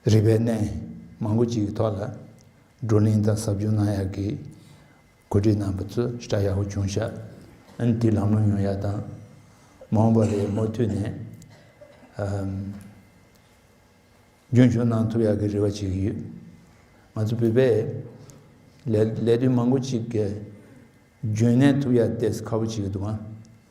རིག་པའི་གནས་མང་པོ་ཅིག་གི་ཐོག་ལ་བགྲོ་གླེང་དང་ཟབ་སྦྱོང་གནང་ཡག་གི། གོ་སྒྲིག་གནང་བ་ཚོས་སྐྲ་ཡག་པོ་བྱུང་ཤག་དེ་ལམ་ལྷོང་ཡོང་ཡག་དང། མ་འོངས་པར་རེས་མོ་མཐུད་ནས་རྒྱུན་འཁྱོངས་གནང་ཐུབ་ཡག་གི་རེ་བ་བྱེད་ཀྱི་ཡོད། ང་ཚོ་བོད་པས་ལས་དོན་མང་པོ་ཅིག་གི་རྒྱུན་གནས་ཐུབ་ཡག་ལྟས་ཁ་བོ་བྱེད་ཀྱི་འདུག་ང།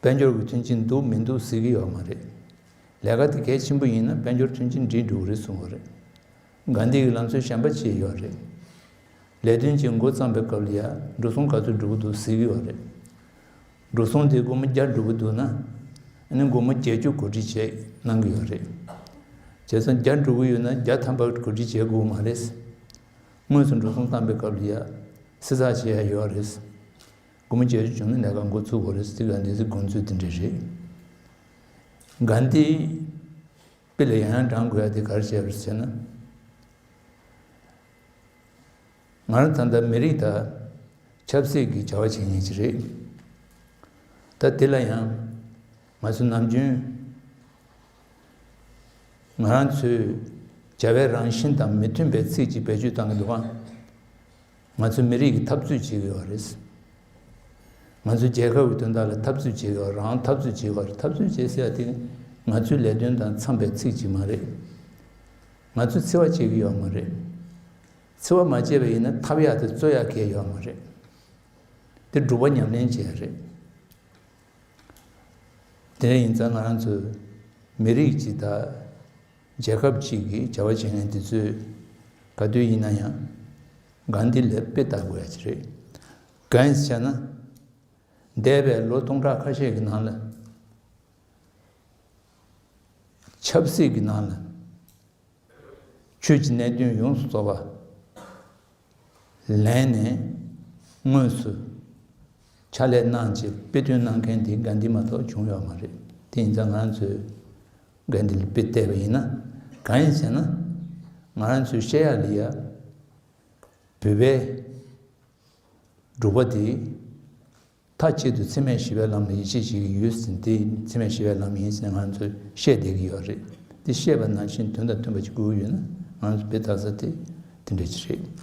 དཔལ་འབྱོར་གྱི་མཐུན་རྐྱེན་འདུག་མི་འདུག་ཟེར་གྱི་ཡོད་མ་རེད། ལས་ཀ་དེ་གལ་ཆེན་པོ་ཡིན་ན་དཔལ་འབྱོར་མཐུན་རྐྱེན་འབྲི་འགྲུག་རེད་གསུང་བ་རེད། དགའ་འདེད་ཀྱི་ལམ་སྲོལ་གཞན་པ་བྱས་ཡོད་རེད། ལས་དོན་བྱེད་མགོ་བརྩམས་པའི་སྐབས་ལ་ཡ་འགྲོ་སོང་ག་ཚོད་འགྲོ་གི་འདུག་ཟེར་གྱི་ཡོད་རེད། འགྲོ་སོང་དེ་སྒོར་མོ་བརྒྱ་འགྲོ་གི་འདུག་ན། ནི་སྒོར་མོ་བརྒྱད་ཅུ་གོ་སྒྲིག་བྱས་གནང་གི་ཡོད་རེད། བྱས་ཙང་བརྒྱ་འགྲོ་གི་ཡོད་ན་བརྒྱ་ཐམ་པ་གོ་སྒྲིག་བྱས་དགོས་མ་རེད། དངོས་སུ་འགྲོ་སོང་བརྩམས་པའི་སྐབས་ལ་ཡ་བསྲི་ཚགས་བྱས་ཡོད་རེད། སྐུ་མི་བཅས་བྱུང་ན་ལས་ཀ་འགོ་ཚུགས་དགོས་རེད་ཟེར་གཱན་དྷིའི་དགོངས་ཚུལ་དེ་འདྲ་རེད། གཱན་དྷིས་དཔེ་ལས་ཡང་ཡང་བགྲང་དགོས་ཡ་དེ་གར་བྱས་པར་ཟེར་ན། ང་རང་ད་ལྟ་མི་རིགས་དང་ཆབ་སྲིད་ཀྱི་བྱ་བ་བྱེད་ངེས་ཅི་རེད། ད་དེ་ལ་ཡང་ང་ཚོ་ནམ་རྒྱུན་ང་རང་ཚོའི་བྱ་བའི་རང་བཞིན་དང་མི་མཐུན་པའི་ཚིག་ཅིག་བེད་སྤྱོད་བཏང་གི་འདུག་གཱ། ང་ཚོ་མི་རིགས་ཀྱི་འཐབ་རྩོད་བྱེད་དགོས་པ་རེད། ང་ཚོ་རྒྱལ་ཁབ་ཀྱི་དོན་དག་ལ་འཐབ་རྩོད་བྱེད་དགོས་པ་རང་འཐབ་རྩོད་བྱེད་དགོས་པ་རེད་འཐབ་རྩོད་བྱེད་ཟེར་བ་དེ་ང་ཚོའི་ལས་དོན་དང་འཚམས་པའི་ཚིག་ཅིག་མ་རེད། ང་ཚོས་འཚེ་བ་བྱེད་ཀྱི་ཡོད་མ་རེད། འཚེ་བ་མ་བྱས་པ་ཡིན་ན་འཐབ་ཡག་དེ་རྩོད་ཡག་གལ་ཡོད་མ་རེད། དེ་སྒྲུབ་པ་ཉམས་ལེན་བྱེད་ཡག་རེད། དེ་འདྲ་ཡིན་ཙང་ང་རང་ཚོ་མི་རིགས་ཀྱི་ད། རྒྱལ་ཁབ་ཅིག་གི་བྱ་བ་བྱེད་མཁན་དེ་ཚོས་ག་དུས་ཡིན་ན་ཡང་གང་འདི་ལས་དཔེ་བལྟ་དགོས་ཡ་གྱི་རེད། གང་ཟེར་ན། འདས་པའི་ལོ་སྟོང་ཕྲག་ཁ་ཤས་ཀྱི་ནང་ལ། ཆབ་སྲིད་ཀྱི་ནང་ལ། ཆོས་ཀྱི་གནད་དོན་ཡོངས་སུ་རྫོགས་པ། ལན། དངོས་སུ་ཕྱག་ལས་གནང་ཆེད་དཔེ་སྟོན་གནང་མཁན་དེ་འགའ་འདི་མ་གཏོགས་བྱུང་ཡོད་མ་རེད་དེ་ཡིན་ཙང་ང་རང་ཚོས་འགའ་འདི་ལ་དཔེ་བལྟས་པ་ཡིན་ན་གང་ཡིན་ཟེར་ན་ང་རང་ཚོའི་ཤེས་ཡག་ལི་ཡག་བོད་པའི་འབྲུག་པ་དེ་ཐ་གཅིག་ཏུ་འཚེ་མེད་ཞི་བའི་ལམ་ལ་ཡིད་ཆེས་བྱེད་ཀྱི་ཡོད་ཟིན་དེ་འཚེ་མེད་ཞི་བའི་ལམ་ཡིན་ཟེར་ང་རང་ཚོས་བཤད་བསྡད་ཀྱི་ཡོད་རེད་དེ་བཤད་པ་ནང་བཞིན་དོན་དང་མཐུན་པ་ཅིག་དགོས་ཀྱི་ཡོད་ན་ང་རང་ཚོ་དཔེ་བལྟ་ས་དེ་དེ་འདྲ་ཅིག་རེད།